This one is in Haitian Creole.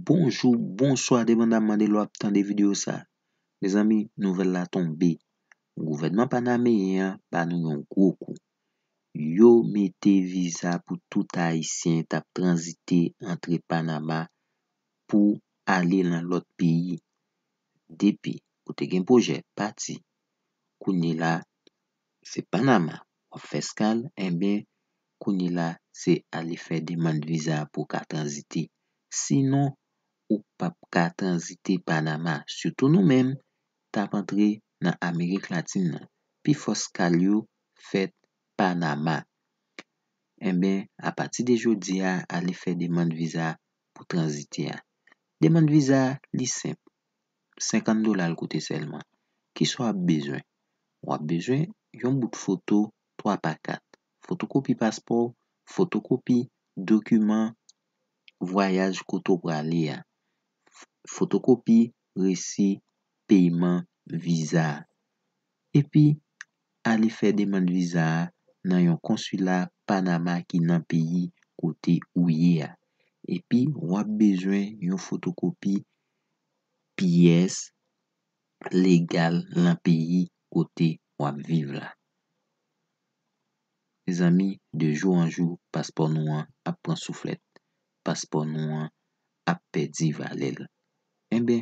Bonjou, bonswa depandamman de lè w ap tande videyo sa. Mezanmi, nouvèl la tonbe. Gouvènman panameyen an ba nou yon gwo kou. Yo mete viza pou tout ayisyen k ap tranzite antre Panama pou ale lan lòt peyi depi ou te gen pwojè pati kounye la se panama wap fè skal enben kounye la se ale fè demand viza pou ka tranzite si non ou pap ka tranzite panama sitou nou menm tap antre nan amerik latin nan pi fò skal yo fèt panama enben apati de jodi a ale fè demand viza pou tranzite a. Demand viza a li senp, 50 dola l koute sèlman. Ki sa w ap bezwen? W ap bezwen yon bout foto 3 pa 4, fotokopi paspò w, fotokopi dokiman vwayaj kote w prale a, fotokopi resi peyman viza a. epi ale fè demand viza a nan yon konsila Panama ki nan peyi kote ou ye a, epi w ap bezwen yon fotokopi pyès legal lan peyi kote w ap viv la. Mezanmi, de jou an jou, paspò nou an ap pran souflèt, paspò nou an ap pèdi valè l. Enben,